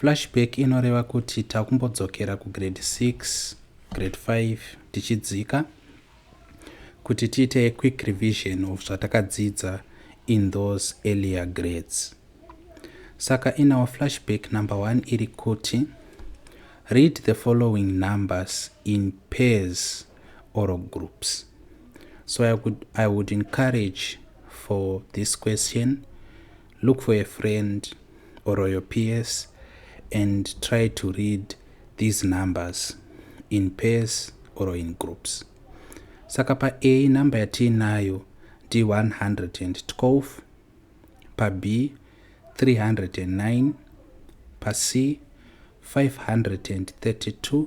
Flashback inoreva kuti takumbodzokera kugrade 6, grade 5 tichidzika kuti tiite quick revision of zvatakadzidza in those earlier grades. Saka in our flashback number 1 iri kuti read the following numbers in pairs or groups. So I would, I would encourage for this question look for a friend or your peers and try to read these numbers in pairs or in groups saka pa a number yatiinayo ndi 112 pa b 309 pa c 532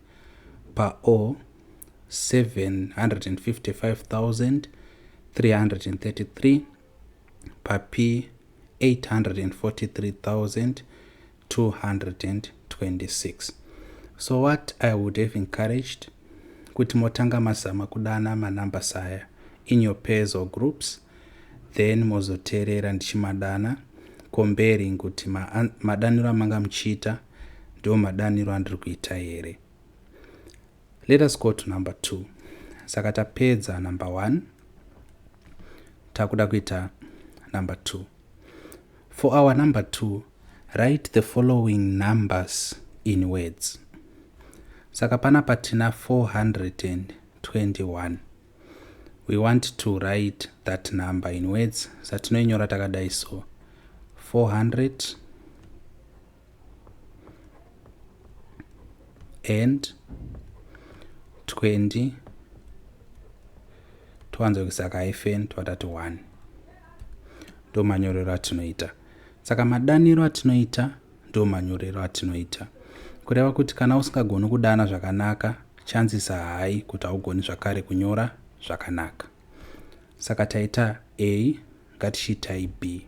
paur 755333 paP 843226 so what i would have encouraged kuti motanga mazama kudana manumber saya in your pairs or groups then mozoteerera ndichimadana comparing kuti madaniro amanga muchiita ma ndiwo madaniro andiri kuita here let us go to number two saka tapedza number one takuda kuita number two for our number two write the following numbers in words saka pana patina 421 we want to write that number in words satinoinyora takadai so 400 and 20 towanza kuisa kahyphen twatati 1 ndo manyorero atinoita saka madaniro atinoita ndo manyorero atinoita kureva kuti kana usingagoni kudana zvakanaka chances hayi kuti haugoni zvakare kunyora zvakanaka saka taita a ngatichiitai b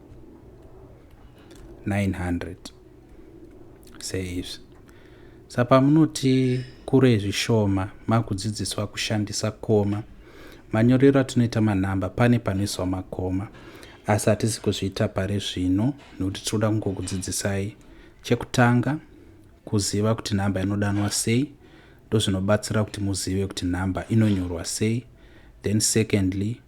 900 seizvi sa pamunoti kure zvishoma makudzidziswa kushandisa koma manyorero atinoita manhamba pane panoiswa makoma asi hatisi kuzviita pari zvino nekuti tinoda kungokudzidzisai chekutanga kuziva kuti nhamba inodanwa sei ndozvinobatsira kuti muzive kuti nhamba inonyorwa sei then secondly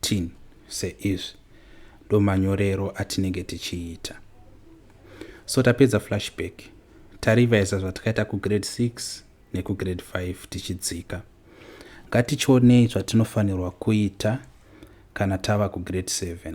Tin se izvi ndomanyorero atinenge tichiita so tapedza flashback tarivaiza zvatakaita kugrade 6 nekugrade 5 tichidzika ngatichionei zvatinofanirwa kuita kana tava kugrade 7